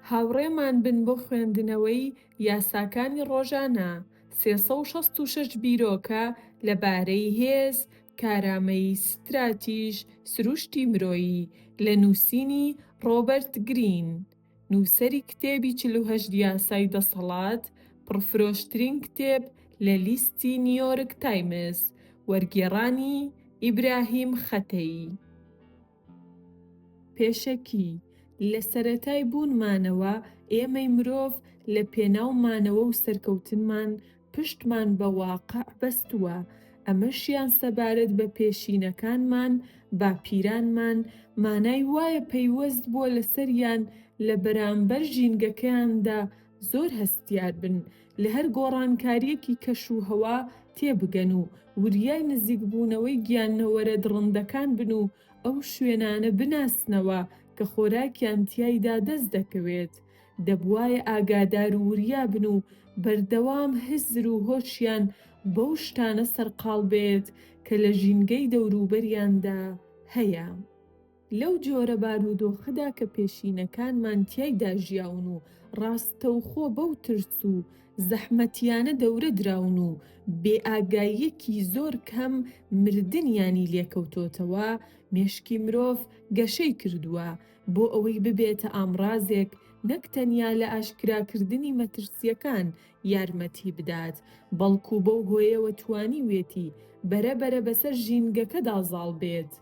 هاوڕێمان بن بۆ خوێندنەوەی یاساکانی ڕۆژانە سێ سەد و شەست و شەش بیرۆکە لە بارەی هێز، کارامەیی ستراتیژ، سروشتی مرۆیی لە نووسینی ڕۆبەرت گرین. نووسەری کتێبی چل و هەشت یاسای دەسەڵات، پڕفرۆشترین کتێب لە لیستی نیۆرک تایمز، وەرگێڕانی، ئیبراهیم خەتەیی. پێشەکی، لە سەرەتای بوونمانەوە ئێمەی مرۆڤ لە پێناو مانەوە و سەرکەوتنمان پشتمان بە واقع بەستووە، ئەمەشیان سەبارەت بە پێشینەکانمان، باپیرانمان، مانای وایە پەیوەست بووە لەسەریان لە بەرامبەر ژینگەکەیاندا زۆر هەستیار بن، لە هەر گۆڕانکارییەکی کەش و هەوا تێبگەن و وریای نزیکبوونەوەی گیانەوەرە دڕندەکان بن و ئەو شوێنانە بناسنەوە کە خۆراکیان تیایدا دەست دەکەوێت. دەبوایە ئاگادار و وریا بن و بەردەوام هزر و هۆشیان بەو شتانە سەرقاڵ بێت کە لە ژینگەی دەوروبەریاندا هەیە. لەو جۆرە بارودۆخەدا کە پێشینەکانمان تیایدا ژیاون و ڕاستەوخۆ بەو ترس و زەحمەتیانە دەورە دراون و بێئاگاییەکی زۆر کەم مردنیانی لێکەوتۆتەوە، مێشکی مرۆڤ گەشەی کردووە، بۆ ئەوەی ببێتە ئامڕازێک نەک تەنیا لە ئاشکراکردنی مەترسییەکان یارمەتی بدات، بەڵکو بەو هۆیەوە توانیوێتی بەرە بەرە بەسەر ژینگەکەدا زاڵ بێت.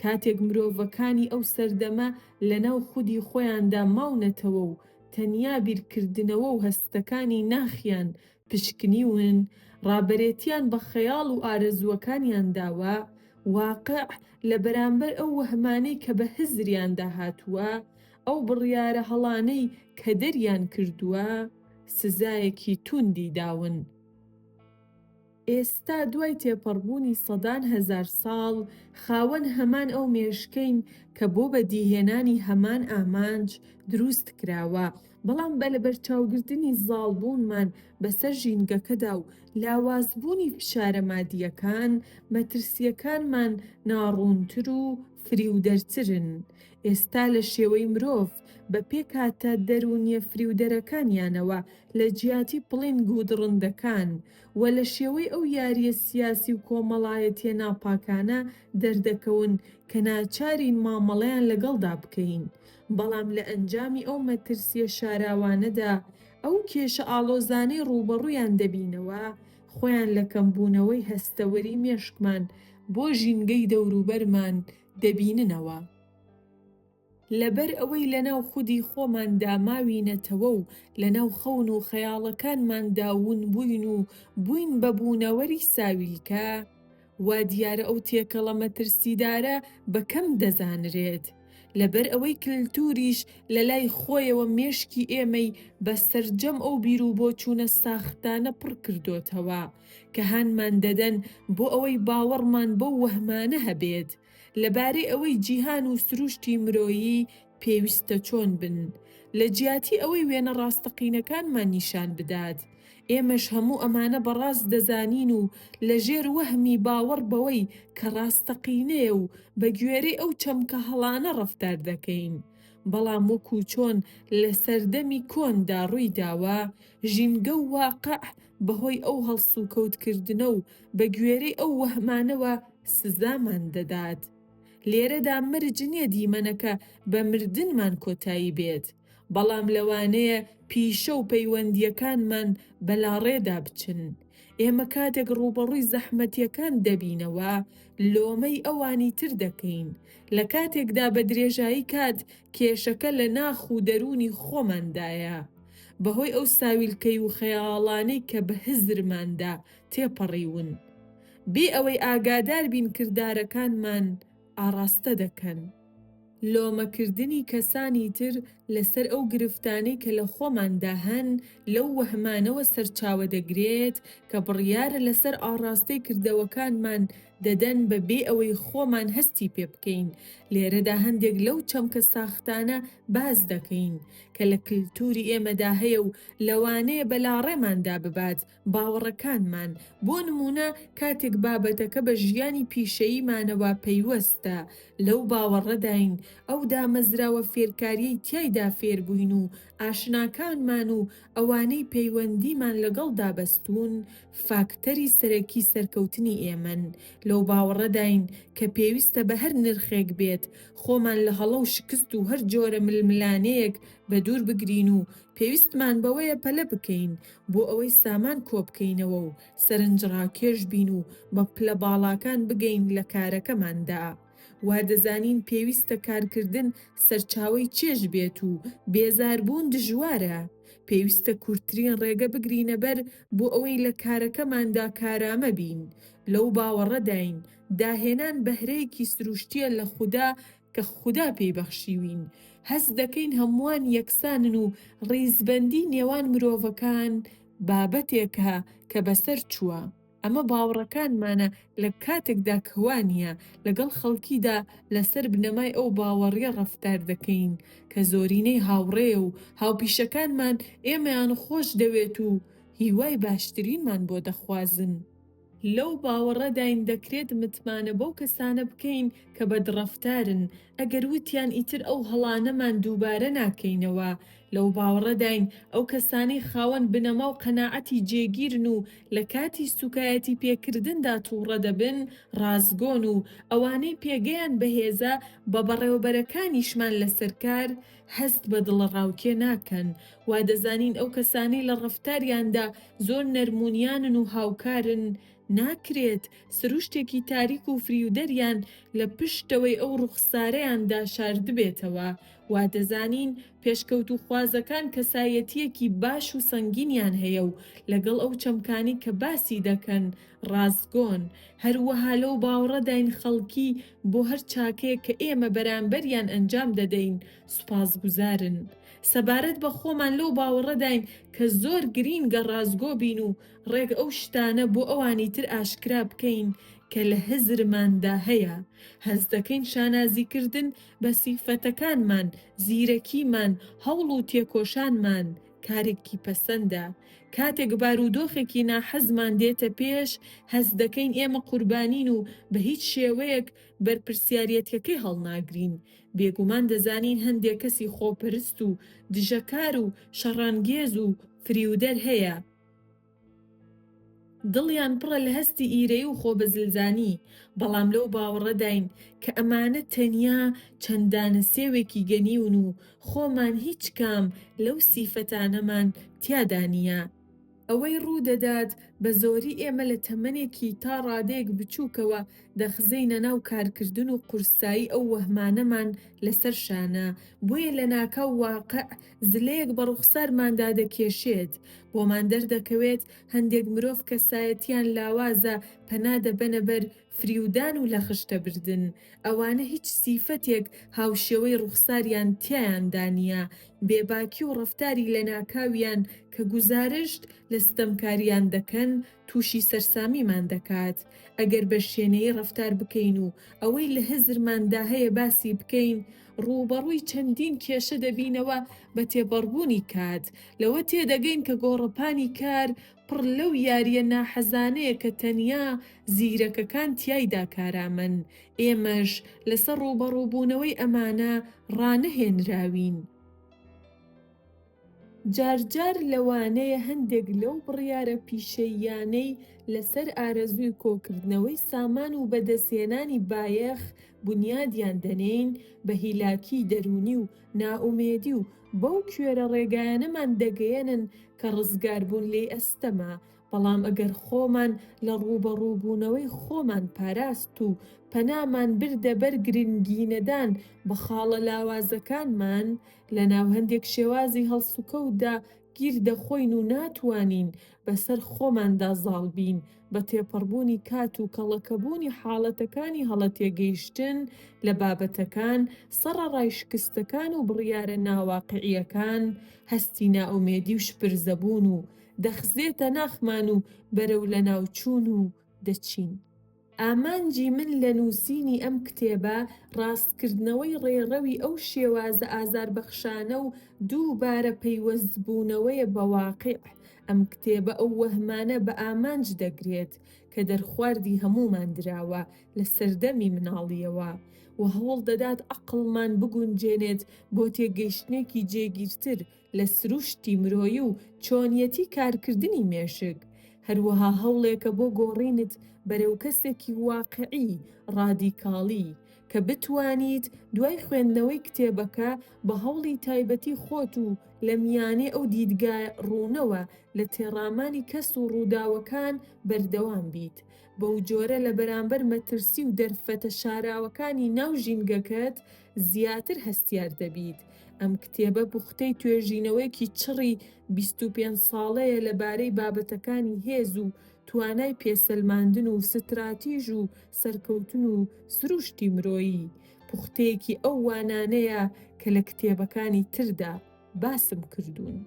کاتێک مرۆڤەکانی ئەو سەردەمە لەناو خودی خۆیاندا ماونەتەوە و تەنیا بیرکردنەوە و هەستەکانی ناخیان پشکنیون، ڕابەرێتیان بە خەیاڵ و ئارەزووەکانیان داوە، واقع، لە بەرامبەر ئەو وەهمانەی کە بە هزریاندا هاتووە، ئەو بڕیارە هەڵانەی کە دەریان کردووە، سزایەکی تووندی داون. ئێستا دوای تێپەڕبوونی سەدان هەزار ساڵ، خاوەن هەمان ئەو مێشکەین کە بۆ بەدیهێنانی هەمان ئامانج درووست کراوە، بەڵام بە لەبەرچاوگرتنی زاڵبوونمان بەسەر ژینگەکەدا و لاوازبوونی فشارە مادییەکان، مەترسییەکانمان ناڕوونتر و فریودەرترن. ئێستا لە شێوەی مرۆڤ، بە پێکهاتە دەروونییە فریودەرەکانیانەوە لە جیاتی پڵینگ و دڕندەکان و لە شێوەی ئەو یارییە سیاسی و کۆمەڵایەتییە ناپاکانە دەردەکەون کە ناچارین مامەڵەیان لەگەڵدا بکەین. بەڵام لە ئەنجامی ئەو مەترسییە شاراوانەدا، ئەو کێشە ئاڵۆزانەی ڕووبەڕوویان دەبینەوە، خۆیان لە کەمبوونەوەی هەستەوەری مێشکمان بۆ ژینگەی دەوروبەرمان دەبیننەوە. لەبەر ئەوەی لەناو خودی خۆماندا ماوینەتەوە و لەناو خەون و خەیاڵەکانماندا ونبووین و بووین بە بوونەوەری ساویلکە، وا دیارە ئەو تێکەڵە مەترسیدارە بە کەم دەزانرێت، لەبەر ئەوەی کلتوریش لە لای خۆیەوە مێشکی ئێمەی بە سەرجەم ئەو بیروبۆچوونە ساختانە پڕ کردۆتەوە کە هانمان دەدەن بۆ ئەوەی باوەڕمان بەو وەهمانە هەبێت لەبارەی ئەوەی جیهان و سروشتی مرۆیی پێویستە چۆن بن، لە جیاتی ئەوەی وێنە ڕاستەقینەکانمان نیشان بدات، ئێمەش هەموو ئەمانە بە ڕاست دەزانین و لە ژێر وەهمی باوەڕ بەوەی کە ڕاستەقینەیە و بە گوێرەی ئەو چەمکە هەڵانە ڕەفتار دەکەین. بەڵام وەکوو چۆن لە سەردەمی کۆندا ڕووی داوە، ژینگە و واقع بە هۆی ئەو هەڵسوکەوتکردنە و بە گوێرەی ئەو وەهمانەوە سزامان دەدات. لێرەدا مەرج نیە دیمەنەکە بە مردنمان کۆتایی بێت، بەڵام لەوانەیە پیشە و پەیوەندییەکانمان بەلاڕێدا بچن. ئێمە کاتێک ڕووبەڕووی زەحمەتیەکان دەبینەوە، لۆمەی ئەوانی تر دەکەین، لە کاتێکدا بە درێژایی کات کێشەکە لە ناخ و دەروونی خۆماندایە، بەهۆی ئەو ساویلکەی و خەیاڵانەی کە بە هزرماندا تێپەڕیوون بێ ئەوەی ئاگادار بین کردارەکانمان ئاڕاستە دەکەن لۆمە کردنی کەسانی تر لەسەر ئەو گرفتانەی کە لە خۆماندا هەن لەو وەهمانەوە سەرچاوە دەگرێت کە بڕیارە لەسەر ئاڕاستەی کردەوەکانمان دەدەن بە بێ ئەوەی خۆمان هەستی پێ بکەین لێرەدا هەندێک لەو چەمکە ساختانە باس دەکەین کە لە کلتوری ئێمەدا هەیە و لەوانەیە بەلاڕێماندا ببات باوەڕەکانمان، بۆ نموونە کاتێک بابەتەکە بە ژیانی پیشەییمانەوە پەیوەستە، لەو باوەڕەداین ئەو دامەزراوە فێرکارییەی تیایدا فێربووین و ئاشناکانمان و ئەوانەی پەیوەندیمان لەگەڵدا بەستوون فاکتەری سەرەکی سەرکەوتنی ئێمەن، لەو باوەڕەداین کە پێویستە بە هەر نرخێک بێت خۆمان لە هەڵە و شکست و هەر جۆرە ململانێیەک بەدوور بگرین و پێویستمان بەوەیە پەلە بکەین بۆ ئەوەی سامان کۆبکەینەوە و سەرنجڕاکێش بین و بە پلە باڵاکان بگەین لە کارەکەماندا. وا دەزانین پێویستە کارکردن سەرچاوەی چێژ بێت و بێزاربوون دژوارە. پێویستە کورتترین ڕێگە بگرینە بەر بۆ ئەوەی لە کارەکەماندا کارامە بین. لەو باوەڕەداین داهێنان بەهرەیەکی سروشتییە لە خودا کە خودا پێی بەخشیوین، هەست دەکەین هەمووان یەکسانن و ڕیزبەندی نێوان مرۆڤەکان بابەتێکە کە بەسەر چووە، ئەمە باوەڕەکانمانە لە کاتێکدا کە وا نییە، لەگەڵ خەڵکیدا لەسەر بنەمای ئەو باوەڕیە ڕەفتار دەکەین کە زۆرینەی هاوڕێ و هاوپیشەکانمان ئێمەیان خۆش دەوێت و هیوای باشترینمان بۆ دەخوازن. لەو باوەڕەداین دەکرێت متمانە بەو کەسانە بکەین کە بەدڕەفتارن، ئەگەر وتیان ئیتر ئەو هەڵانەمان دووبارە ناکەینەوە. لەو باوەڕەداین ئەو کەسانەی خاوەن بنەما و قەناعەتی جێگیرن و لە کاتی سووکایەتی پێکردندا تووڕە دەبن، ڕاستگۆن و ئەوانەی پێگەیان بەهێزە، بە بەڕێوەبەرەکانیشمان لەسەر کار هەست بە دڵەڕاوکێ ناکەن. وادەزانین ئەو کەسانەی لە ڕەفتاریاندا زۆر نەرمونیانن و هاوکارن ناکرێت سروشتێکی تاریک و فریودەریان لە پشتەوەی ئەو ڕوخسارەیاندا شاردبێتەوە وادەزانین پێشکەوتوخوازەکان کەسایەتیەکی باش و سەنگینیان هەیە و لەگەڵ ئەو چەمکانی کە باسی دەکەن ڕاستگۆن هەروەها لەو باوەڕەداین خەڵکی بۆ هەر چاکەیەک کە ئێمە بەرامبەریان ئەنجام دەدەین سوپاسگوزارن. سەبارەت بە خۆمان لەو باوەڕەداین کە زۆر گرینگە ڕاستگۆ بین و ڕێک ئەو شتانە بۆ ئەوانی تر ئاشکرا بکەین کە لە هزرماندا هەیە. هەست دەکەین شانازیکردن بە سیفەتەکانمان، زیرەکیمان، هەوڵ و تێکۆشانمان کارێکی پەسەندە. کاتێک بارودۆخێکی ناحەزمان دێتە پێش، هەست دەکەین ئێمە قوربانین و بە هیچ شێوەیەک بەرپرسیاریەتیەکەی هەڵناگرین. بێگومان دەزانین هەندێک کەسی خۆپەرست و دژەکار و شەڕانگێز و فریودەر هەیە، دڵیان پڕە لە هەستی ئیرەیی و خۆبەزلزانی، بەڵام لەو باوەڕەداین کە ئەمانە تەنیا چەند دانە سێوێکی گەنیون و خۆمان هیچ کام لەو سیفەتانەمان تیادا نییە. ئەوەی ڕوو دەدات بە زۆری ئێمە لە تەمەنێکی تا ڕادەیەک بچووکەوە دەخزێینە ناو کارکردن و قورسایی ئەو وەهمانەمان لە سەر شانە، بۆیە لە ناکاو واقع زلەیەک بە ڕوخسارماندا دەکێشێت. بۆمان دەردەکەوێت هەندێک مرۆڤ کەسایەتییان لاوازە پەنا دەبەنە بەر فریودان و لەخشتە بردن، ئەوانە هیچ سیفەتێک هاوشێوەی ڕوخساریان تیایاندا نیە، بێباکی و ڕەفتاری لەناکاویان کە گوزارشت لە ستەمکاریان دەکەن توشی سەرسامیمان دەکات، ئەگەر بە شێنەیی ڕەفتار بکەین و ئەوەی لە هزرماندا هەیە باسی بکەین، ڕوبەڕوی چەندین کێشە دەبینەوە بە تێپەڕبونی کات لەوە تێدەگەین کە گۆڕەپانی کار پڕ لەو یاریە ناحەزانەیە کە تەنیا زیرەکەکان تیایدا کارامەن، ئێمەش لەسەر ڕووبەڕووبوونەوەی ئەمانە ڕانەهێنراوین. جارجار لەوانەیە هەندێک لەو بڕیارە پیشەییانەی لەسەر ئارەزووی کۆکردنەوەی سامان و بەدەستهێنانی بایەخ بونیادیان دەنێین، بە هیلاکیی دەروونی و نائومێدی و بەو کوێرە ڕێگایانەمان دەگەیەنن کە ڕزگاربوون لێی ئەستەمە، بەڵام ئەگەر خۆمان لە ڕووبەڕووبوونەوەی خۆمان پاراست و پەنامان بردە بەر گرنگینەدان بە خاڵە لاوازەکانمان، لەناو هەندێک شێوازی هەڵسوکەوتدا گیر دەخۆین و ناتوانین بەسەر خۆماندا زاڵ بین بە تێپەڕبوونی کات و کەڵەکەبوونی حاڵەتەکانی هەڵە تێگەیشتن لە بابەتەکان، سەڕەڕای شکستەکان و بڕیارە ناواقعییەکان، هەستی نائومێدی و شپرزەبوون و دەخزێتە ناخمان و بەرەو لەناوچوون و دەچین. ئامانجی من لە نووسینی ئەم کتێبە ڕاستکردنەوەی ڕێڕەوی ئەو شێوازە ئازاربەخشانە و دووبارە پەیوەستبوونەوەیە بە واقیع، ئەم کتێبە ئەو وەهمانە بە ئامانج دەگرێت کە دەرخواردی هەموومان دراوە لە سەردەمی مناڵییەوە و هەوڵدەدات عەقڵمان بگونجێنێت بۆ تێگەیشتنێکی جێگیرتر لە سروشتی مرۆیی و چۆنیەتی کارکردنی مێشک، هەروەها هەوڵێکە بۆ گۆڕینت بەرەو کەسێکی واقیعی، ڕادیکاڵی، کە بتوانیت دوای خوێندنەوەی کتێبەکە بە هەوڵی تایبەتی خۆت و لە میانەی ئەو دیدگا ڕوونەوە لە تێڕامانی کەس و ڕووداوەکان بەردەوام بیت، بەوجۆرە لە بەرامبەر مەترسی و دەرفەتە شاراوەکانی ناو ژینگەکەت زیاتر هەستیار دەبیت. ئەم کتێبە بوختەی توێژینەوەیەکی چڕی بیست و پێنج ساڵەیە لەبارەی بابەتەکانی هێز و توانای پێسەلماندن و ستراتیژ و سەرکەوتن و سروشتی مرۆیی. پوختەیەکی ئەو وانانەیە کە لە کتێبەکانی تردا باسم کردوون.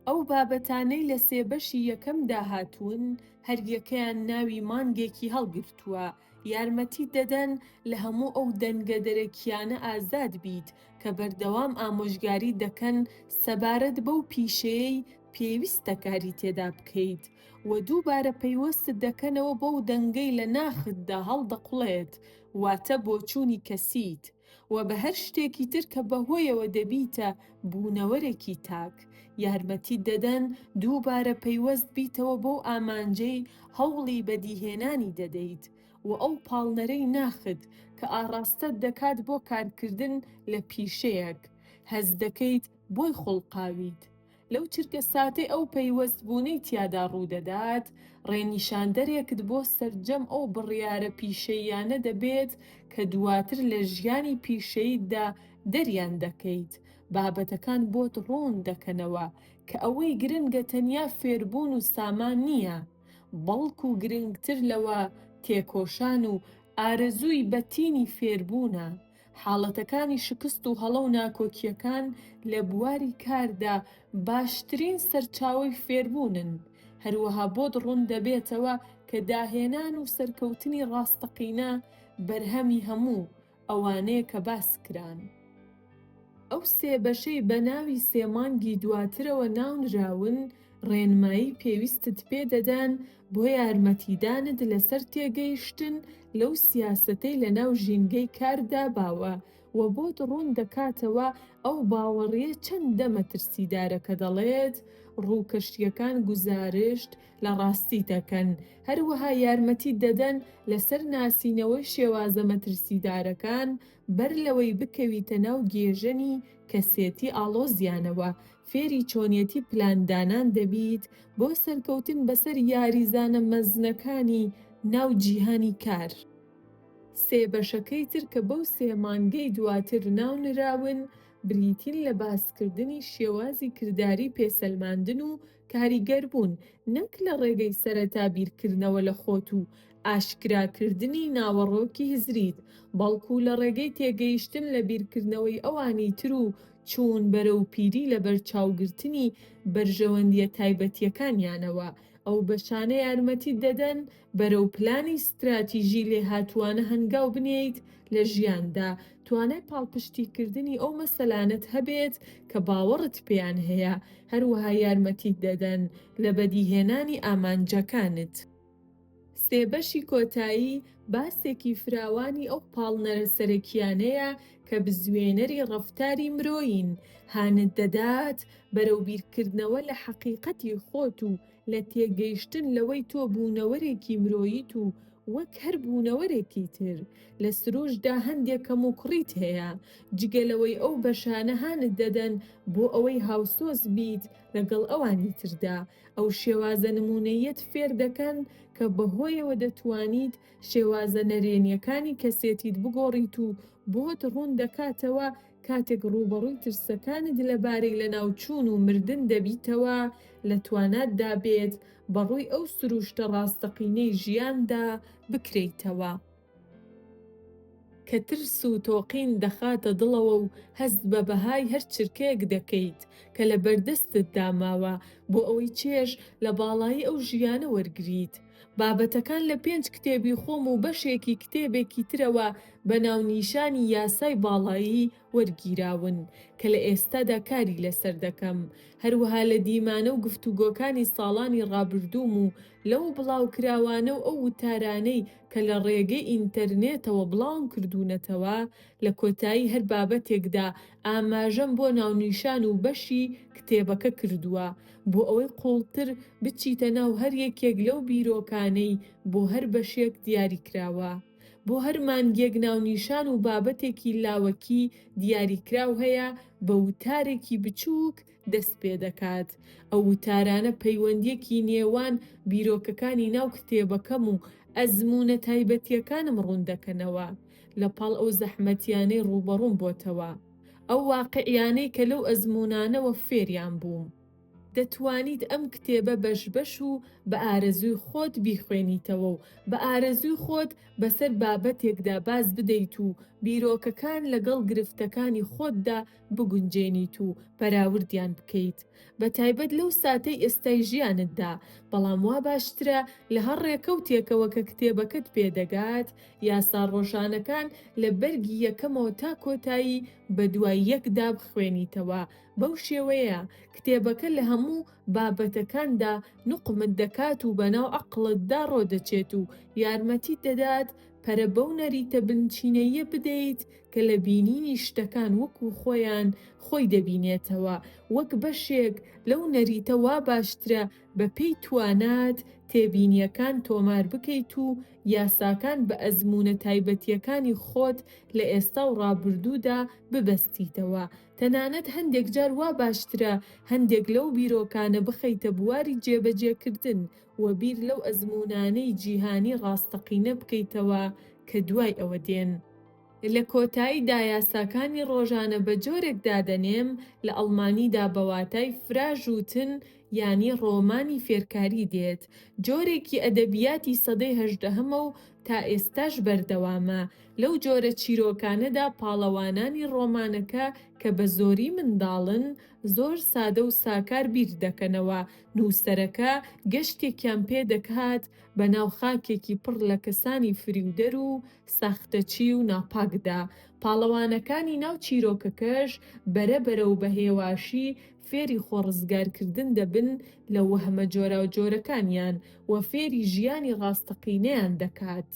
ئەو بابەتانەی لە سێ بەشی یەکەمدا هاتوون، هەریەکەیان ناوی مانگێکی هەڵگرتووە، یارمەتیت دەدەن لە هەموو ئەو دەنگە دەرەکییانە ئازاد بیت کە بەردەوام ئامۆژگاریت دەکەن سەبارەت بەو پیشەیەی پێویستە کاری تێدا بکەیت و دووبارە پەیوەستت دەکەنەوە بەو دەنگەی لە ناختدا هەڵدەقوڵێت، واتە بۆچوونی کەسیت. و بە هەر شتێکی تر کە بەهۆیەوە دەبیتە بوونەوەرێکی تاک، یارمەتیت دەدەن دووبارە پەیوەست بیتەوە بەو ئامانجەی هەوڵی بەدیهێنانی دەدەیت و ئەو پاڵنەرەی ناخت کە ئاڕاستەت دەکات بۆ کارکردن لە پیشەیەک هەست دەکەیت بۆی خوڵقاویت لەو چرکە ساتەی ئەو پەیوەست بوونەی تیادا ڕوودەدات، ڕێنیشاندەرێکت بۆ سەرجەم ئەو بڕیارە پیشەییانە دەبێت کە دواتر لە ژیانی پیشەییتدا دەریان دەکەیت، بابەتەکان بۆت ڕوون دەکەنەوە کە ئەوەی گرنگە تەنیا فێربوون و سامان نییە، بەڵکو گرنگتر لەوە تێکۆشان و ئارەزووی بەتینی فێربوونە. حاڵەتەکانی شکست و هەڵە و ناکۆکییەکان لە بواری کاردا باشترین سەرچاوەی فێربوونن، هەروەها بۆت ڕوون دەبێتەوە کە داهێنان و سەرکەوتنی ڕاستەقینە بەرهەمی هەموو ئەوانەیە کە باس کران. ئەو سێ بەشەی بە ناوی سێ مانگی دواترەوە ناونراون، ڕێنمایی پێویستت پێ دەدەن بۆ یارمەتیدانت لەسەر تێگەیشتن لەو سیاسەتەی لەناو ژینگەی کاردا باوە، وە بۆت ڕوون دەکاتەوە ئەو باوەڕییە چەندە مەترسیدارە کە دەڵێت ڕووکەشییەکان گوزارشت لە ڕاستی دەکەن، هەروەها یارمەتیت دەدەن لەسەر ناسینەوەی شێوازە مەترسیدارەکان بەر لەوەی بکەویتە ناو گێژەنی کەسێتی ئاڵۆزیانەوە، فێری چۆنیەتی پلان دانان دەبیت بۆ سەرکەوتن بەسەر یاریزانە مەزنەکانی ناو جیهانی کار. سێ بەشەکەی تر کە بەو سێ مانگەی دواتر ناونراون بریتین لە باسکردنی شێوازی کرداری پێسەلماندن و کاریگەربوون نەک لە ڕێگەی سەرەتا بیرکردنەوە لە خۆت و ئاشکراکردنی ناوەڕۆکی هزریت بەڵکو لە ڕێگەی تێگەیشتن لە بیرکردنەوەی ئەوانی تر و چوون بەرەو پیری لە بەرچاوگرتنی بەرژەوەندییە تایبەتییەکانیانەوە، ئەو بەشانە یارمەتیت دەدەن بەرەو پلانی ستراتیژی لێهاتووانە هەنگاو بنێیت لە ژیاندا، توانای پاڵپشتیکردنی ئەو مەسەلانەت هەبێت کە باوەڕت پێیان هەیە، هەروەها یارمەتیت دەدەن لە بەدیهێنانی ئامانجەکانت. سێ بەشی کۆتایی باسێکی فراوانی ئەو پاڵنەرە سەرەکییانەیە کە بزوێنەری ڕەفتاری مرۆیین، هانت دەدات بەرەو بیرکردنەوە لە حەقیقەتی خۆت و لە تێگەیشتن لەوەی تۆ بوونەوەرێکی مرۆییت و وەک هەر بوونەوەرێکی تر لە سروشتدا هەندێ کەموکوڕیت هەیە، جگە لەوەی ئەو بەشانە هانت دەدەن بۆ ئەوەی هاوسۆز بیت لەگەڵ ئەوانی تردا. ئەو شێوازە نموونەییەت فێر دەکەن کە بەهۆیەوە دەتوانیت شێوازە نەرێنییەکانی کەسێتیت بگۆڕیت و بۆت ڕوون دەکاتەوە کاتێک ڕووبەڕووی ترسەکانت لەبارەی لەناوچوون و مردن دەبیتەوە لە تواناتدا بێت بەڕووی ئەو سرووشتە ڕاستەقینەی ژیاندا بکرێیتەوە. کە ترس و تۆقین دەخاتە دڵەوە و هەست بە بەهای هەر چرکەیەک دەکەیت کە لە بەردەستتدا ماوە بۆ ئەوەی چێژ لە باڵایی ئەو ژیانە وەرگریت. بابەتەکان لە پێنج کتێبی خۆم و بەشێکی کتێبێکی ترەوە بە ناونیشانی یاسای باڵایی وەرگیراون کە لە ئێستادا کاری لەسەر دەکەم، هەروەها لە دیمانە و گفتوگۆکانی ساڵانی ڕابردووم و لەو بڵاوکراوانە و ئەو وتارانەی کە لە ڕێگەی ئینتەرنێتەوە بڵاوم کردوونەتەوە، لە کۆتایی هەر بابەتێکدا ئاماژەم بۆ ناونیشان و بەشی کتێبەکە کردووە، بۆ ئەوەی قووڵتر بچیتە ناو هەر یەکێک لەو بیرۆکانەی بۆ هەر بەشێک دیاریکراوە. بۆ هەر مانگێک ناونیشان و بابەتێکی لاوەکی دیاریکراو هەیە بە وتارێکی بچووک دەست پێ دەکات. ئەو وتارانە پەیوەندییەکی نێوان بیرۆکەکانی ناو کتێبەکەم و ئەزموونە تایبەتییەکانم ڕوون دەکەنەوە، لە پاڵ ئەو زەحمەتیانەی ڕووبەڕووم بۆتەوە، ئەو واقعیانەی کە لەو ئەزموونانەوە فێریان بووم. دەتوانیت ئەم کتێبە بەش بەش و بە ئارەزووی خۆت بیخوێنیتەوە و بە ئارەزووی خۆت بەسەر بابەتێکدا باز بدەیت و بیرۆکەکان لەگەڵ گرفتەکانی خۆتدا بگونجێنیت و پەراوردیان بکەیت بە تایبەت لەو ساتەی ئێستای ژیانتدا، بەڵام وا باشترە لە هەر ڕێکەوتێکەوە کە کتێبەکەت پێ دەگات، یاسا ڕۆژانەکان لە بەرگی یەکەمەوە تا کۆتایی بە دوای یەکدا بخوێنیتەوە، بەو شێوەیە کتێبەکە لە هەموو بابەتەکاندا نوقمت دەکات و بەناو عەقڵتدا ڕۆدەچێت و یارمەتیت دەدات پەرە بەو نەریتە بنچینەییە بدەیت کە لە بینینی شتەکان وەکوو خۆیان خۆی دەبینێتەوە، وەک بەشێک لەو نەریتە وا باشترە بە پێی توانات تێبینییەکان تۆمار بکەیت و یاساکان بە ئەزموونە تایبەتییەکانی خۆت لە ئێستا و ڕابردوودا ببەستیتەوە، تەنانەت هەندێک جار وا باشترە هەندێک لەو بیرۆکانە بخەیتە بواری جێبەجێکردن و بیر لەو ئەزموونانەی جیهانی ڕاستەقینە بکەیتەوە کە دوای ئەوە دێن. لە کۆتاییدا یاساکانی ڕۆژانە بە جۆرێک دادەنێم، لە ئەڵمانیدا بە واتای فراژوتن یانی ڕۆمانی فێرکاری دێت، جۆرێکی ئەدەبیاتی سەدەی هەژدەهەمە و تا ئێستاش بەردەوامە، لەو جۆرە چیرۆکانەدا پاڵەوانانی ڕۆمانەکە کە بە زۆری منداڵن، زۆر سادە و ساکار بیر دەکەنەوە، نووسەرەکە گەشتێکیان پێ دەکات بە ناو خاکێکی پڕ لە کەسانی فریودەر و ساختەچی و ناپاکدا، پاڵەوانەکانی ناو چیرۆکەکەش بەرە بەرە و بە هێواشی فێری خۆ ڕزگارکردن دەبن لە وەهمە جۆراوجۆرەکانیان و فێری ژیانی ڕاستەقینەیان دەکات.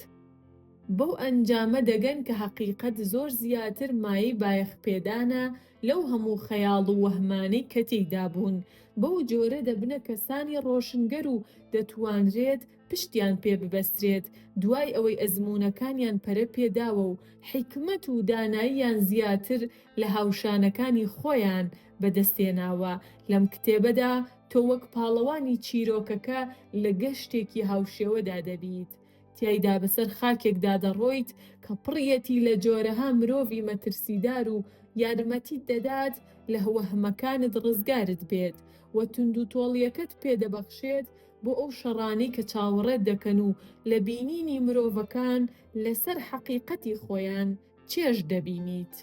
بەو ئەنجامە دەگەن کە هەقیقەت زۆر زیاتر مایەی بایەخپێدانە، لەو هەموو خەیاڵ و وەهمانەی کە تێیدا بوون، بەو جۆرە دەبنە کەسانی ڕۆشنگەر و دەتوانرێت پشتیان پێ ببەسترێت، دوای ئەوەی ئەزموونەکانیان پەرە پێ داوە و حیکمەت و داناییان زیاتر لە هاوشانەکانی خۆیان بە دەست هێناوە. لەم کتێبەدا تۆ وەک پاڵەوانی چیرۆکەکە لە گەشتێکی هاوشێوەدا دەبیت، تیایدا بەسەر خاکێکدا دەڕۆیت کە پڕیەتی لە جۆرەها مرۆڤی مەترسیدار و یارمەتیت دەدات لە وەهمەکانت ڕزگارت بێت و توندوتۆڵیەکەت پێ دەبەخشێت بۆ ئەو شەڕانەی کە چاوەڕێت دەکەن و لە بینینی مرۆڤەکان لەسەر حەقیقەتی خۆیان چێژ دەبینیت.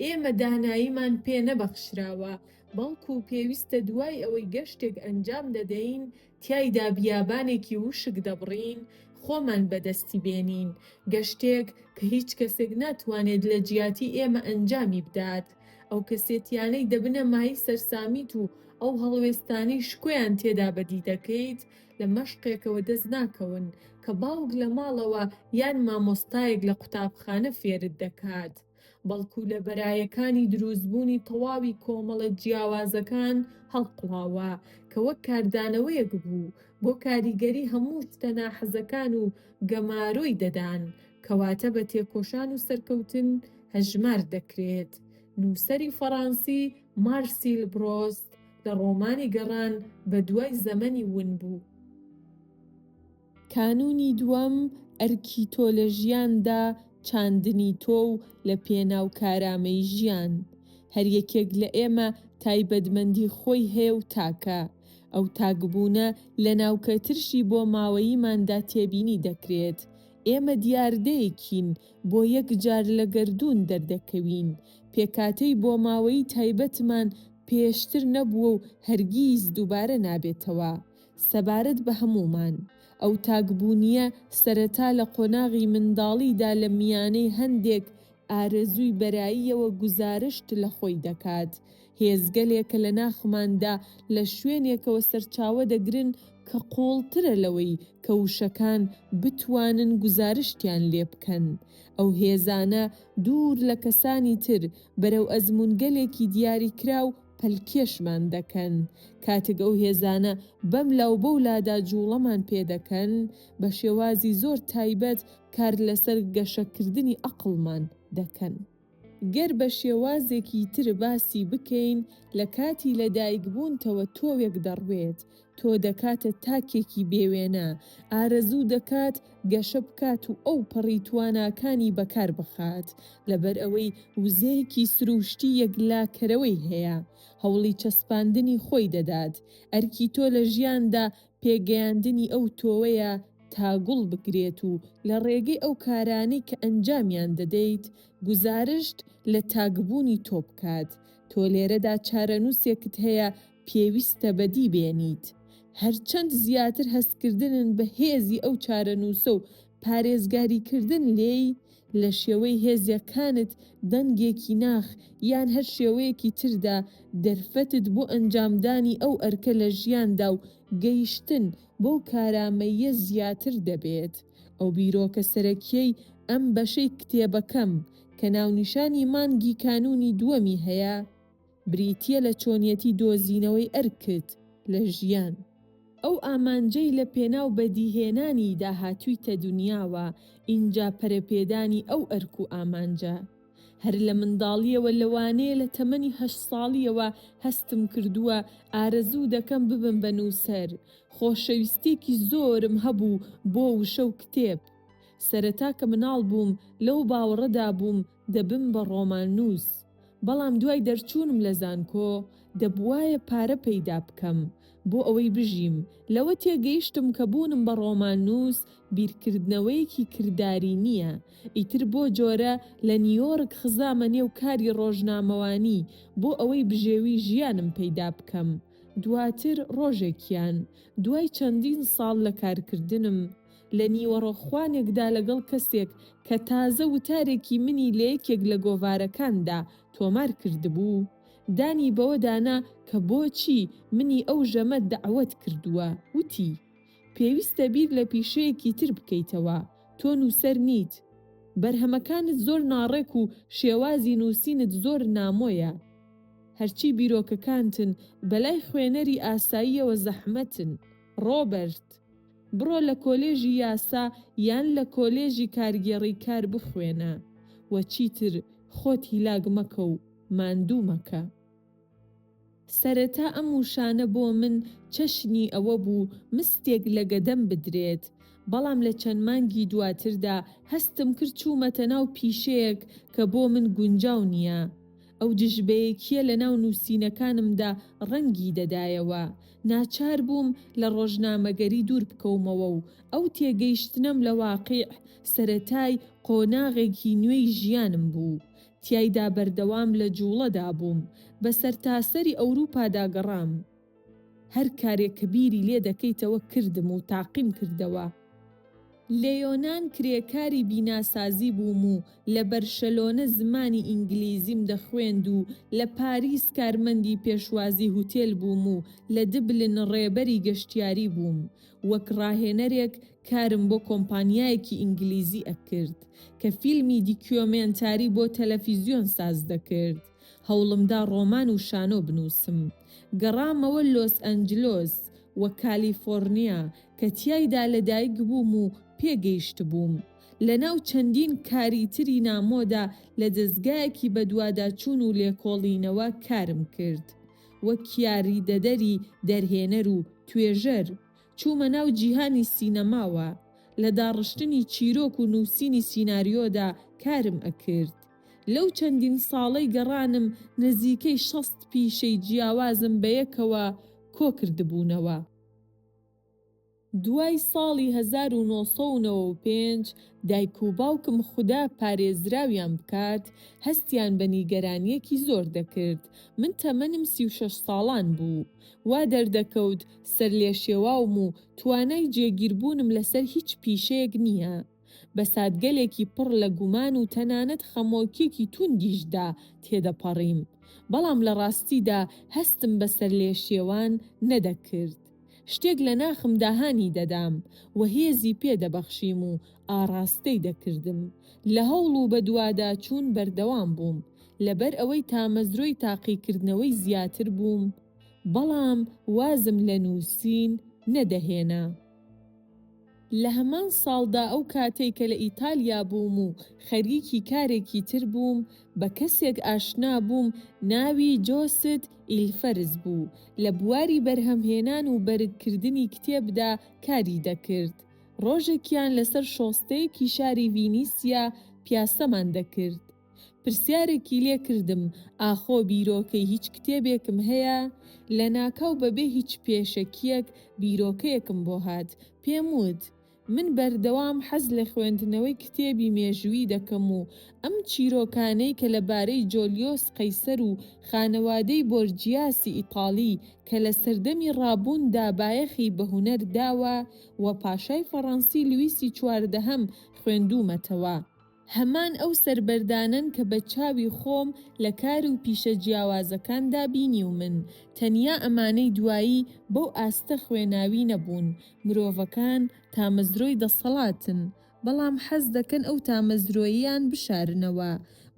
ئێمە داناییمان پێ نەبەخشراوە، بەڵکو پێویستە دوای ئەوەی گەشتێک ئەنجام دەدەین تیایدا بیابانێکی وشک دەبڕین خۆمان بەدەستی بێنین، گەشتێک کە هیچ کەسێک ناتوانێت لە جیاتی ئێمە ئەنجامی بدات، ئەو کەسێتیانەی دەبنە مایەی سەرسامیت و ئەو هەڵوێستانەی شکۆیان تێدا بەدی دەکەیت لە مەشقێکەوە دەست ناکەون کە باوک لە ماڵەوە یان مامۆستایەک لە قوتابخانە فێرت دەکات. بەڵکو لە بەرایەکانی دروستبوونی تەواوی کۆمەڵە جیاوازەکان هەڵقوڵاوە، کە وەک کاردانەوەیەک بوو بۆ کاریگەری هەموو شتە ناحەزەکان و گەمارۆی دەدان، کەواتە بە تێکۆشان و سەرکەوتن هەژمار دەکرێت. نووسەری فەڕانسی مارسیل برۆست لە ڕۆمانی گەڕان بەدوای زەمەنی ونبوو، کانوونی دووەم، ئەرکی تۆ لە ژیاندا چاندنی تۆ و لە پێناو کارامەی ژیان. هەر یەکێک لە ئێمە تایبەتمەندی خۆی هەیە و تاکە. ئەو تاکبوونە لە ناوکە ترشی بۆماوەییماندا تێبینی دەکرێت. ئێمە دیاردەیەکین، بۆ یەک جار لە گەردوون دەردەکەوین. پێکهاتەی بۆماوەیی تایبەتمان پێشتر نەبووە و هەرگیز دووبارە نابێتەوە. سەبارەت بە هەموومان، ئەو تاکبوونییە سەرەتا لە قۆناغی منداڵیدا لە میانەی هەندێک ئارەزووی بەراییەوە گوزارشت لە خۆی دەکات، هێزگەلێکە لە ناخماندا لە شوێنێکەوە سەرچاوە دەگرن کە قووڵترە لەوەی کە وشەکان بتوانن گوزارشتیان لێ بکەن، ئەو هێزانە دوور لە کەسانی تر بەرەو ئەزموونگەلێکی دیاریکراو پەلکێشمان دەکەن، کاتێک ئەو هێزانە بەم لا و بەو لادا جووڵەمان پێ دەکەن، بە شێوازی زۆر تایبەت کار لەسەر گەشەکردنی ئەقڵمان دەکەن. گەر بە شێوازێکی تر باسی بکەین، لە کاتی لەدایکبوونتەوە تۆوێک دەڕوێت، تۆ دەکاتە تاکێکی بێ وێنە، ئارەزوو دەکات گەشە بکات و ئەو پەڕی تواناکانی بەکار بخات، لەبەر ئەوەی وزەیەکی سرووشتی یەکلاکەرەوەی هەیە، هەوڵی چەسپاندنی خۆی دەدات، ئەرکی تۆ لە ژیاندا پێگەیاندنی ئەو تۆوەیە تا گوڵ بگرێت و لە ڕێگەی ئەو کارانەی کە ئەنجامیان دەدەیت گوزارشت لە تاکبوونی تۆ بکات، تۆ لێرەدا چارەنووسێکت هەیە پێویستە بەدی بێنیت هەرچەند زیاتر هەستکردنن بە هێزی ئەو چارەنووسە و پارێزگاریکردن لێی، لە شێوەی هێزەکانت، دەنگێکی ناخ، یان هەر شێوەیەکی تردا، دەرفەتت بۆ ئەنجامدانی ئەو ئەرکە لە ژیاندا و گەیشتن بەو کارامەییە زیاتر دەبێت. ئەو بیرۆکە سەرەکییەی ئەم بەشەی کتێبەکەم، کە ناونیشانی مانگی کانوونی دووەمی هەیە، بریتییە لە چۆنیەتی دۆزینەوەی ئەرکت لە ژیان. ئەو ئامانجەی لە پێناو بەدیهێنانیدا هاتوویتە دونیاوە، ئینجا پەرەپێدانی ئەو ئەرک و ئامانجە. هەر لە منداڵییەوە لەوانەیە لە تەمەنی هەشت ساڵییەوە هەستم کردووە ئارەزوو دەکەم ببم بە نووسەر، خۆشەویستییەکی زۆرم هەبوو بۆ وشە و کتێب. سەرەتا کە مناڵ بووم لەو باوەڕەدا بووم، دەبم بە ڕۆماننووس، بەڵام دوای دەرچوونم لە زانکۆ دەبوایە پارە پەیدا بکەم بۆ ئەوەی بژیم، لەوە تێگەیشتم کە بوونم بە ڕۆماننووس بیرکردنەوەیەکی کرداری نییە، ئیتر بۆ جۆرە لە نیویۆرک خزامە نێو کاری ڕۆژنامەوانی بۆ ئەوەی بژێوی ژیانم پەیدا بکەم، دواتر ڕۆژێکیان دوای چەندین ساڵ لە کارکردنم لە نیوەڕۆ خوانێکدا لەگەڵ کەسێک کە تازە وتارێکی منی لە یەکێک لە گۆڤارەکاندا تۆمار کردبوو، دانی بەوەدا نا کە بۆچی منی ئەو ژەمە دەعوەت کردووە، وتی، پێویستە بیر لە پیشەیەکی تر بکەیتەوە، تۆ نووسەر نیت. بەرهەمەکانت زۆر ناڕێک و شێوازی نووسینت زۆر نامۆیە. هەرچی بیرۆکەکانتن، بەلای خوێنەری ئاساییەوە زەحمەتن. ڕۆبەرت. بڕۆ لە کۆلێژی یاسا یان لە کۆلێژی کارگێڕی کار بخوێنە و چیتر خۆت هیلاک مەکە و ماندوو مەکە. سەرەتا ئەم وشانە بۆ من چەشنی ئەوە بوو مستێک لە گەدەم بدرێت، بەڵام لە چەند مانگی دواتردا هەستم کرد چوومەتە ناو پیشەیەک کە بۆ من گونجاو نییە. ئەو دژبەیەکییە لە ناو نووسینەکانمدا ڕەنگی دەدایەوە. ناچار بووم لە ڕۆژنامەگەری دوور بکەومەوە و ئەو تێگەیشتنەم لە واقیع، سەرەتای قۆناغێکی نوێی ژیانم بوو. تیایدا بەردەوام لە جووڵەدا بووم. بە سەرتاسەری ئەوروپادا گەڕام. هەر کارێک کە بیری لێ دەکەیتەوە کردم و تاقیم کردەوە. لە یۆنان کرێکاری بیناسازی بووم و لە بەرشەلۆنە زمانی ئینگلیزیم دەخوێند و لە پاریس کارمەندی پێشوازی هوتێل بووم و لە دبلن ڕێبەری گەشتیاری بووم. وەک ڕاهێنەرێک کارم بۆ کۆمپانیایەکی ئینگلیزی ئەکرد کە فیلمی دیکیۆمێنتاری بۆ تەلەفیزیۆن ساز دەکرد. هەوڵمدا ڕۆمان و شانۆ بنووسم. گەڕامەوە لۆس ئەنجلۆس و کالیفۆڕنیا، کە تیایدا لەدایکبووم و پێگەیشتبووم. لەناو چەندین کاری تری نامۆدا لە دەزگایەکی بەدواداچوون و لێکۆڵینەوە کارم کرد. وەک یاریدەدەری دەرهێنەر و توێژەر، چوومە ناو جیهانی سینەماوە. لە داڕشتنی چیرۆک و نووسینی سیناریۆدا کارم ئەکرد. لەو چەندین ساڵەی گەڕانم نزیکەی شەست پیشەی جیاوازم بەیەکەوە کۆکردبوونەوە. دوای ساڵی هەزار و نۆ سەد و نەوە و پێنج دایک و باوکم خودا پارێزراویان بکات هەستیان بە نیگەرانییەکی زۆر دەکرد. من تەمەنم سی و شەش ساڵان بوو. وا دەردەکەوت سەرلێشێواوم و توانای جێگیربوونم لەسەر هیچ پیشەیەک نییە. بە ساتگەلێکی پڕ لە گومان و تەنانەت خەمۆکیەکی توندیشدا تێدەپەڕیم، بەڵام لە ڕاستیدا هەستم بە سەرلێشێوان نەدەکرد. شتێک لە ناخمدا هانی دەدام و هێزی پێ دەبەخشیم و ئاڕاستەی دەکردم. لە هەوڵ و بەدواداچوون بەردەوام بووم، لەبەر ئەوەی تامەزرۆی تاقیکردنەوەی زیاتر بووم، بەڵام وازم لە نووسین نەدەهێنا. لە هەمان ساڵدا ئەو کاتەی کە لە ئیتالیا بووم و خەریکی کارێکی تر بووم، بە کەسێک ئاشنا بووم ناوی جۆست ئیلفەرز بوو، لە بواری بەرهەمهێنان و بەرگکردنی کتێبدا کاری دەکرد. ڕۆژێکیان لەسەر شۆستەیەکی شاری ڤینیسیا پیاسەمان دەکرد. پرسیارێکی لێ کردم ئاخۆ بیرۆکەی هیچ کتێبێکم هەیە؟ لەناکاو بەبێ هیچ پێشەکییەک بیرۆکەیەکم بۆ هات، پێم وت، من بەردەوام حەز لە خوێندنەوەی کتێبی مێژوویی دەکەم و ئەم چیرۆکانەی کە لەبارەی جۆلیۆس قەیسەر و خانەوادەی بۆرجیاسی ئیتاڵی کە لە سەردەمی ڕابووندا بایەخی بە هونەر داوە و پاشای فەڕەنسی لویسی چواردەهەم خوێندوومەتەوە. هەمان ئەو سەربەردانەن کە بە چاوی خۆم لە کار و پیشە جیاوازەکاندا بینیومن، تەنیا ئەمانەی دوایی بەو ئاستە خوێناوی نەبوون، مرۆڤەکان تامەزرۆی دەسەڵاتن، بەڵام حەز دەکەن ئەو تامەزرۆییان بشارنەوە،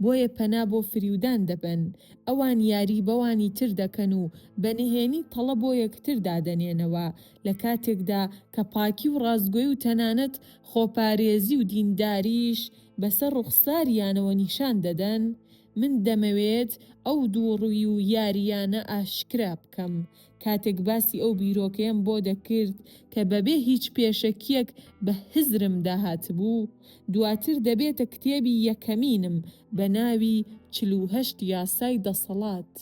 بۆیە پەنا بۆ فریودان دەبەن، ئەوان یاری بەوانی تر دەکەن و بە نهێنی تەڵە بۆ یەکتر دادەنێنەوە، لە کاتێکدا کە پاکی و ڕاستگۆی و تەنانەت خۆپارێزی و دینداریش بەسەر ڕوخساریانەوە نیشان دەدەن، من دەمەوێت ئەو دووڕووی و یارییانە ئاشکرا بکەم، کاتێک باسی ئەو بیرۆکەیەم بۆ دەکرد کە بەبێ هیچ پێشەکییەک بە هزرم داهاتبوو، دواتر دەبێتە کتێبی یەکەمینم بە ناوی چل و هەشت یاسای دەسەڵات.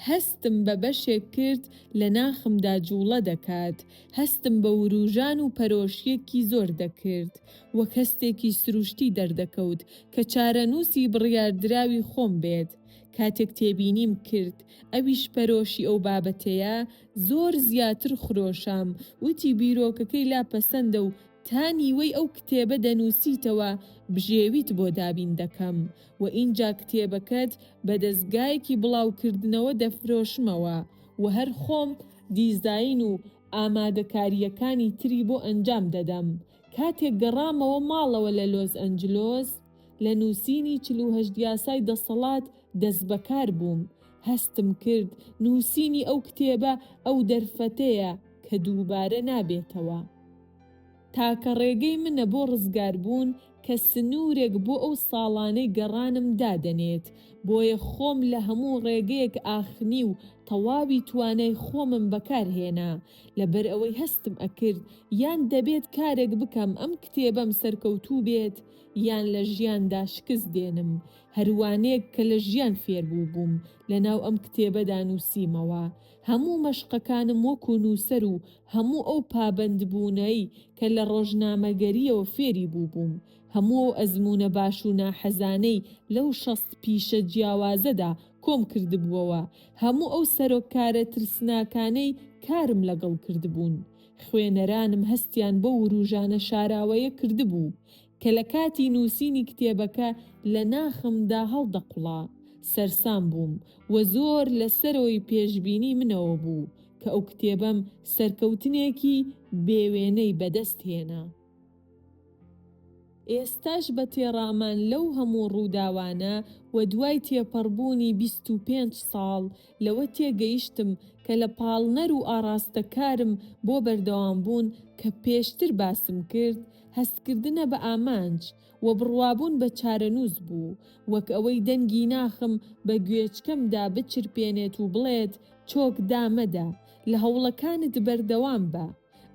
هەستم بە بەشێک کرد لە ناخمدا جووڵە دەکات، هەستم بە ورووژان و پەرۆشییەکی زۆر دەکرد، وەک هەستێکی سرووشتی دەردەکەوت کە چارەنووسی بڕیاردراوی خۆم بێت، کاتێک تێبینیم کرد ئەویش پەرۆشی ئەو بابەتەیە، زۆر زیاتر خرۆشام، وتی بیرۆکەکەی لا پەسەندە و تا نیوەی ئەو کتێبە دەنووسیتەوە بژێویت بۆ دابین دەکەم، و ئینجا کتێبەکەت بە دەزگایەکی بڵاوکردنەوە دەفرۆشمەوە و هەر خۆم دیزاین و ئامادەکارییەکانی تری بۆ ئەنجام دەدەم. کاتێک گەڕامەوە ماڵەوە لە لۆس ئەنجلۆس، لە نووسینی چل و هەشت یاسای دەسەڵات دەستبەکار بووم. هەستم کرد نووسینی ئەو کتێبە ئەو دەرفەتەیە کە دووبارە نابێتەوە. تاکە ڕێگەی منە بۆ ڕزگاربوون کە سنوورێک بۆ ئەو ساڵانەی گەڕانم دادەنێت، بۆیە خۆم لە هەموو ڕێگەیەک ئاخنی و تەواوی توانای خۆمم بەکارهێنا، لەبەر ئەوەی هەستم ئەکرد یان دەبێت کارێک بکەم ئەم کتێبەم سەرکەوتوو بێت یان لە ژیاندا شکست دێنم، هەروانەیەک کە لە ژیان فێربووبووم لەناو ئەم کتێبەدا نووسیمەوە، هەموو مەشقەکانم وەکو نووسەر و هەموو ئەو پابەندبوونەی کە لە ڕۆژنامەگەرییەوە فێری بووبووم، هەموو ئەو ئەزموونە باش و ناحەزانەی لەو شەست پیشە جیاوازەدا کۆم کردبووەوە، هەموو ئەو سەرۆککارە ترسناکانەی کارم لەگەڵ کردبوون. خوێنەرانم هەستیان بەو ورووژانە شاراوەیە کردبوو. کە لە کاتی نووسینی کتێبەکە لە ناخمدا هەڵدەقوڵا، سەرسام بووم و زۆر لە سەرەوەی پێشبینی منەوە بوو کە ئەو کتێبەم سەرکەوتنێکی بێ وێنەی بەدەست هێنا. ئێستاش بە تێڕامان لەو هەموو ڕووداوانە و دوای تێپەڕبوونی بیست و پێنج ساڵ لەوە تێگەیشتم کە لە پاڵنەر و ئاڕاستەکارم بۆ بەردەوامبوون کە پێشتر باسم کرد، هەستکردنە بە ئامانج و بڕوابوون بە چارەنووس بوو، وەک ئەوەی دەنگی ناخم بە گوێچکەمدا بچرپێنێت و بڵێت، چۆک دامەدە، لە هەوڵەکانت بەردەوام بە.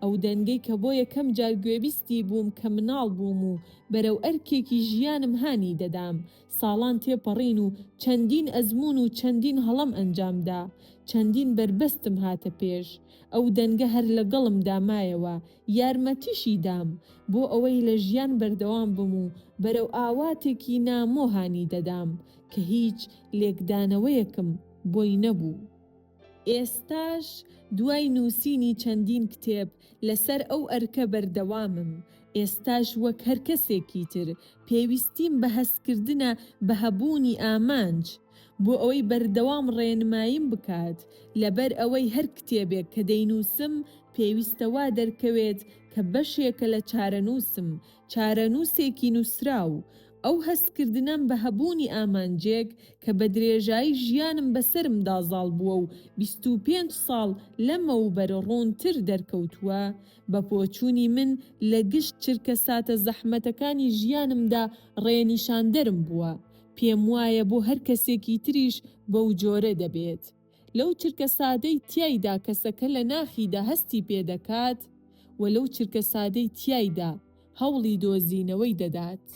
ئەو دەنگەی کە بۆ یەکەم جار گوێبیستی بووم کە مناڵ بووم و بەرەو ئەرکێکی ژیانم هانی دەدام، ساڵان تێپەڕین و چەندین ئەزموون و چەندین هەڵەم ئەنجام دا، چەندین بەربەستم هاتە پێش، ئەو دەنگە هەر لەگەڵمدا مایەوە، یارمەتیشی دام، بۆ ئەوەی لە ژیان بەردەوام بم و بەرەو ئاواتێکی نامۆ هانی دەدام، کە هیچ لێکدانەوەیەکم بۆی نەبوو. ئێستاش دوای نووسینی چەندین کتێب لەسەر ئەو ئەرکە بەردەوامم، ئێستاش وەک هەر کەسێکی تر پێویستیم بە هەستکردنە بە هەبوونی ئامانج بۆ ئەوەی بەردەوام ڕێنماییم بکات، لەبەر ئەوەی هەر کتێبێک کە دەینووسم پێویستە وا دەرکەوێت کە بەشێکە لە چارەنووسم، چارەنووسێکی نووسراو، ئەو هەستکردنەم بە هەبوونی ئامانجێک کە بە درێژایی ژیانم بەسەرمدا زاڵ بووە و بیست و پێنج ساڵ لەمەوبەر ڕوونتر دەرکەوتووە، بە بۆچوونی من لە گشت چرکەساتە زەحمەتەکانی ژیانمدا ڕێنیشاندەرم بووە. پێموایە بۆ هەر کەسێکی تریش بەو جۆرە دەبێت. لەو چرکە سادەی تیایدا کەسەکە لە ناخیدا هەستی پێ دەکات و لەو چرکە سادەی تیایدا هەوڵی دۆزینەوەی دەدات.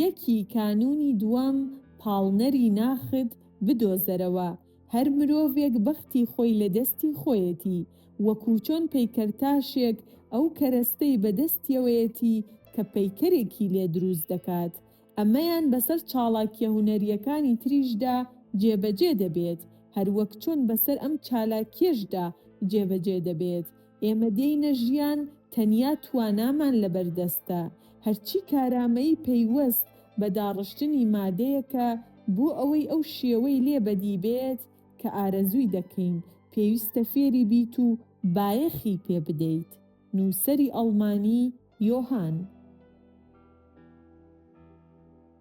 یەکی کانوونی دووەم، پاڵنەری ناخت بدۆزەرەوە، هەر مرۆڤێک بەختی خۆی لە دەستی خۆیەتی، وەکوو چۆن پەیکەرتاشێک ئەو کەرەستەی بە دەستیەوەیەتی کە پەیکەرێکی لێ درووست دەکات، ئەمەیان بەسەر چاڵاکیە هونەریەکانی تریشدا جێبەجێ دەبێت، هەروەک چۆن بەسەر ئەم چالاکیەشدا جێبەجێ دەبێت، ئێمە دێینە ژیان تەنیا توانامان لەبەردەستە، هەرچی کارامەیی پەیوەست بە داڕشتنی مادەیەکە بۆ ئەوەی ئەو شێوەی لێ بەدی بێت کە ئارەزووی دەکەین، پێویستە فێری بیت و بایەخی پێ بدەیت. نووسەری ئەڵمانی. یۆهان.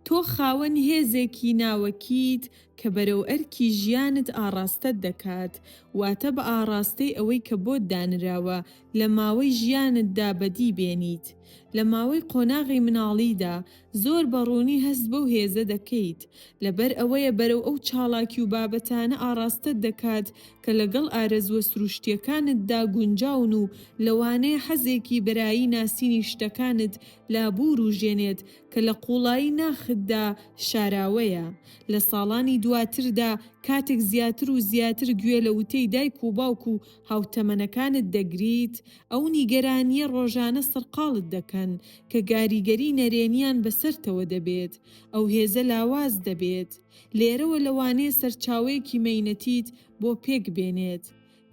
تۆ خاوەن هێزێکی ناوەکیت کە بەرەو ئەرکی ژیانت ئاڕاستەت دەکات، واتە بە ئاڕاستەی ئەوەی کە بۆت دانراوە لە ماوەی ژیانتدا بەدی بێنیت. لە ماوەی قۆناغی مناڵیدا، زۆر بە ڕوونی هەست بەو هێزە دەکەیت، لەبەر ئەوەیە بەرەو ئەو چاڵاکی و بابەتانە ئاڕاستەت دەکات کە لەگەڵ ئارەزووە سروشتییەکانتدا گونجاون و لەوانەیە حەزێکی بەرایی ناسینی شتەکانت لا بورووژێنێت کە لە قووڵایی ناختدا شاراوەیە. لە ساڵانی دواتردا کاتێک زیاتر و زیاتر گوێ لە وتەی دایک و باوک و هاوتەمەنەکانت دەگریت، ئەو نیگەرانییە ڕۆژانە سەرقاڵت دەکەن کە گاریگەری نەرێنییان بەسەرتەوە دەبێت، ئەو هێزە لاواز دەبێت. لێرەوە لەوانەیە سەرچاوەیەکی مەینەتیت بۆ پێک بێنێت،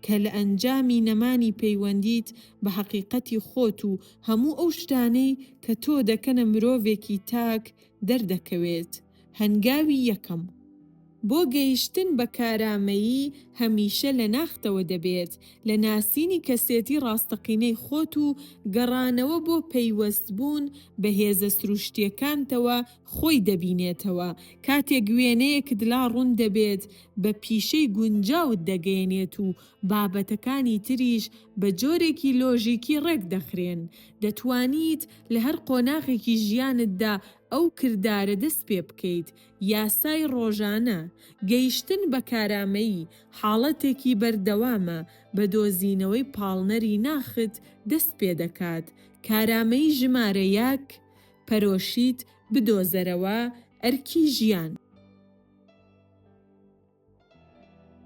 کە لە ئەنجامی نەمانی پەیوەندیت بە هەقیقەتی خۆت و هەموو ئەو شتانەی کە تۆ دەکەنە مرۆڤێکی تاک دەردەکەوێت. هەنگاوی یەکەم. بۆ گەیشتن بە کارامەیی هەمیشە لە ناختەوە دەبێت، لە ناسینی کەسێتی ڕاستەقینەی خۆت و گەڕانەوە بۆ پەیوەستبوون بە هێزە سروشتییەکانتەوە خۆی دەبینێتەوە، کاتێک وێنەیەکت لا ڕوون دەبێت بە پیشەی گونجاوت دەگەیەنێت و بابەتەکانی تریش بە جۆرێکی لۆژیکی ڕێک دەخرێن، دەتوانیت لە هەر قۆناغێکی ژیانتدا ئەو کردارە دەست پێ بکەیت، یاسای ڕۆژانە، گەیشتن بە کارامەیی، حاڵەتێکی بەردەوامە بە دۆزینەوەی پاڵنەری ناخت دەست پێ دەکات، کارامەیی ژمارە یەک، پەرۆشیت بدۆزەرەوە، ئەرکی ژیان.